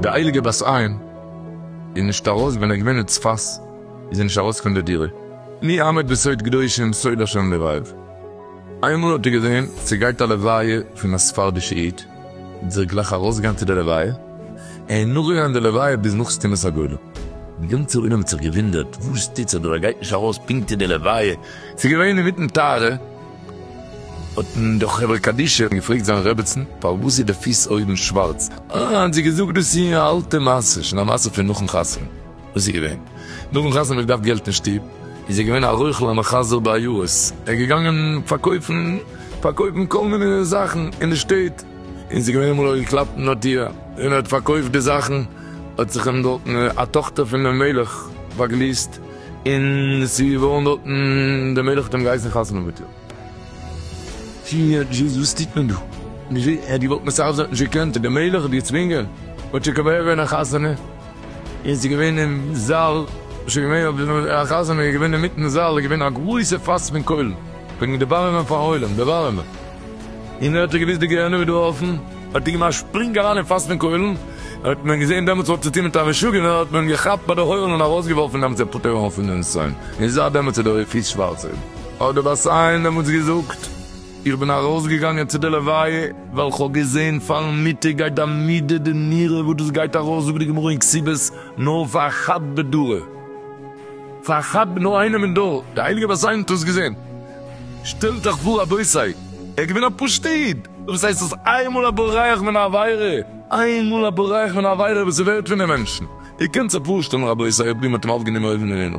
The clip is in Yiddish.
די הייליגע בת עין איז נישט ארויס ווען ער איז געווען אין צפת איז זי נישט ארויס פון די דירה מי עמד בסוד קדושים סוד השם לבב איינמאל האט ער געזען ס'גייט א לוויה פון א ספרדישע איד, זיך גלייך ארויסגעגאנגען צו די לוויה, און נאכגעגאנגען די לוויה ביז נאך סתימת הגולל. די גאנצע עולם האט זיך געוואונדערט, וואס טוט זיך דא, ער גייט נישט ארויס פונקט אין די לוויה, ס'איז געווען אינמיטן טהרה, האטן די חברה קדישא געפרעגט זיין רעבעצן, פארוואס איז די פיס אויבן שווארץ, אה, האט זי געזאגט, דאס איז א אלטע מעשה, שוין א מעשה פון נאכן חתונה, וואס איז געווען? נאכן חתונה האט געדארפט געלט אין שטוב, איז ער געווען א רוכל א מחזר בעיירות, ער איז געגאנגען פארקויפן פארקויפן כל מיני זאכן אין די שטעט, און ס'איז געווען אמאל האט געקלאפט אין א טיר, און ער האט פארקויפט די זאכן, האט זיך אים דארטן א טאכטער פונעם מלך באגליסט, און ס'איז געווארן דארטן, דער מלך האט אים געהייסן חתונה מיט איר. שיניאר דזשיס וואס טוט מען דא? דזשי ע די וואלט מען סאך זאכן נישט געקענט, די מלך האט געצווינגען, האט שוין כמעט געווען א חתונה, און ס'איז געווען אין זאל, שוין געווען אויף די א חתונה איז געווען אינמיטן זאל איז געווען א גרויסע פאס פון קוילן, וועגן דערווארעמען פאר עולם, דערווארעמען, און ער האט ער געוויסט די געהענעם איז דא אפן, האט ער געמאכט א שפרינג אריין אין פאס פון קוילן, האט מען געזען דעמאלטס האט צוטון מיט א משוגענער, האט מען אים געכאפט ביי די הויערן און ארויסגעווארפן דעמאלטס ער פטור אויף פון דעם ציין, און זייט דעמאלטס איז דער אפיס שווארץ אויבן. האט דער בת עין דעמאלטס געזאגט, איך בין ארויסגעגאנגען צו די לוויה, ווייל כ'האב געזען פארן מיטה גייט די מידה די נירה וואס דאס גייט ארויס זאגט די גמרא אין כסיבות נאר פאר א חד בדרא, פאר א חד ב נאר איינעם אין דור, די הייליגע בת עין האט עס געזען, שטעלט אייך פאר רבותי, ער איז געווען א פשוט איד, וואס הייסט דאס איינמאל א בורח מן העבירה, איינמאל א בורח מן העבירה וואס איז ווערט פון די מענטשן, איר קענט זיך פארשטעלן רבותי אויב די האט אים אויפגענומען אויבן אויף די הימל.